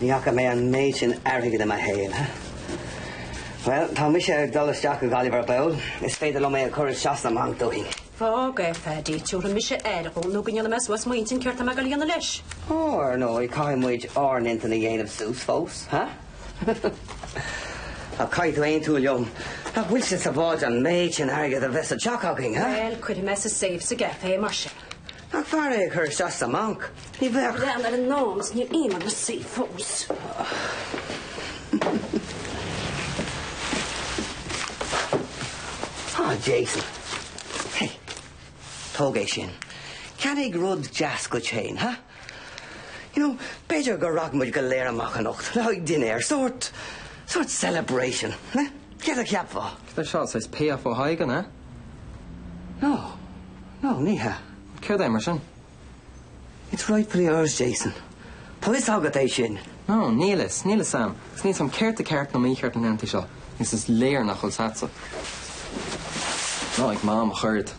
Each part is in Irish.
Ní fhaca mé an méid sin airgid i mo shaol. Bhuel, tá mise ag dul isteach go Gaillimh ar ball. Is féidir liom é a chur isteach sna mbanc dúinn. Fág é, Phaidí, tabharfaidh mise aire dhó nó go ndéana mé suas m'intinn céard tá mé ag dul a dhéanamh leis. Ó, ar ndóigh, caithfidh muid ár n-intinn a dhéanamh suas fós, ha? Ach caithfidh tú aontú liom nach bhfuil sé sábháilte an méid sin airgid a bheith sa teach againn, ha? Bhuel, cuirfidh mé sa safe sa gcaifé, mar sin. Ach b'fhearr é a chur isteach sa mbanc. Ní bheadh. Léan ar an nDán is níl aon rud le suí fós. Á, Jason. Hey, tóg é sin. Ceannaigh rud deas duit féin, ha? You know, b'fhéidir go rachaidh muid go léir amach anocht le haghaidh dinnéar, sórt, sórt celebration, ha? Céard a cheapfá? An bhfuil sé seo saghas payoff ó Thadhg, an ea? No, no, ní hea. Céard é mar sin? It's rightfully ours, Jason. Tá fhios agat é sin. No, níl fhios, níl fhios a'm. Is níl fhios a'm céard tá ceart nó mícheart na laethanta seo, agus is léir nach bhfuil fhios a'tsa. Ná ag mam ach oiread.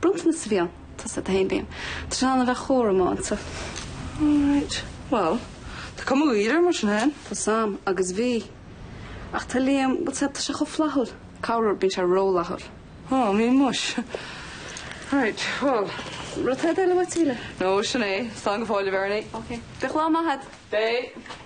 Bronntanas sa bhialann, tús do Honeymoon. Tá sé in ann a bheith chomh rómánsach. Alright. Bhuel, tá cuma níos fhearr air mar sin féin. Tá fhios a'm, agus bhí. Ach tá Liam, bhuel, tá sé chomh flaithiúil. Corruair bíonn sé rófhlaithiúil. Ó, bíonn muis. Right, bhuel. Rud eile uait, Síle? No, sin é. Slán go fóill, a Bheirní. Ok. Bíodh lá maith agat. Beidh.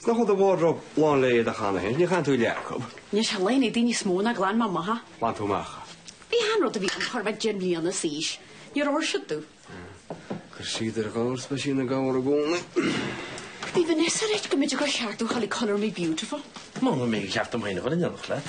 Is an cupboard do wardrobe lán leo cheana féin, ní chaitheann tú leath acu. Ní chaitheann éadaí níos mó ná glan amach. Bhain tú amach. Bhí 'chaon rud a bhí ann ag cur deich mbliana le d'aois. Níor fhóir siad tú. Chuir siad ar ghabhar speisigh na gabhar i gcónaí. Bhí Vanessa ag rá go minic gur cheart duit a ghabháil chuig colour me beautiful. Mura mbeidh ceart dom féin a chur in ionadh leat.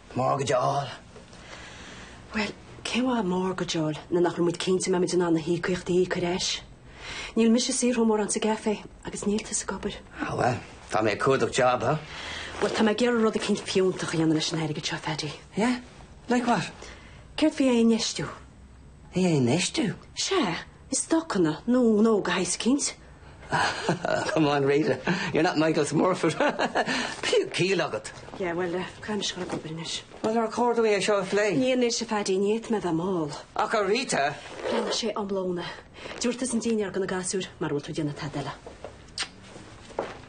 Mortgage a fháil. Bhuel, cén mhaith mortgage nuair nach bhfuil muid cinnte an mbeidh muid in ann na híocaíochtaí a íoc ar ais. Níl mise ag saothrú mórán sa gcaifé agus níl tusa ag obair. Ah bhuel, tá mé ag cuardach job, ha? Bhuel, tá mé ag iarraidh rud eicínt fiúntach a dhéanamh leis an airgead seo, Pheaidí. Yeah? Like what? Céard faoi é a infheistiú? É a infheistiú? Sea, i stocanna nó gnó de shaghas eicínt. Come on Rita, you're not Michael Smurfit. Bíodh ciall agat. Yeah, well, caithfidh mise a ghoil ag obair anois. Well, nár chóir dúinn é seo a phlé? Ní anois, a Phaidí, níl mé ag iarraidh a bheith mall. Ach a Rita! Pléifidh muid é tráthnóna. Tabhair thusa an dinnéar do na gasúr, mara bhfuil tú ag déanamh tada eile.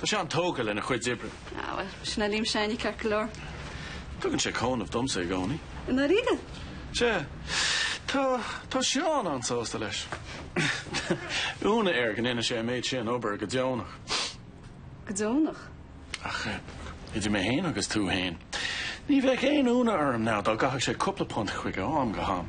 Tá sé an-tógtha lena chuid oibre. Á bhuel, sin é Liam s'againne ceart go leor. Tugann sé cúnamh domsa i gcónaí. I ndáiríre? Sea. Tá, tá Seán an-sásta leis. Ionadh air go ndéanann sé an méid sin obair go deonach. Go deonach? Ach, idir mé féin agus tú féin, ní bheadh aon ionadh orm ná dá gcaithfeadh sé cúpla punt chuige am go ham.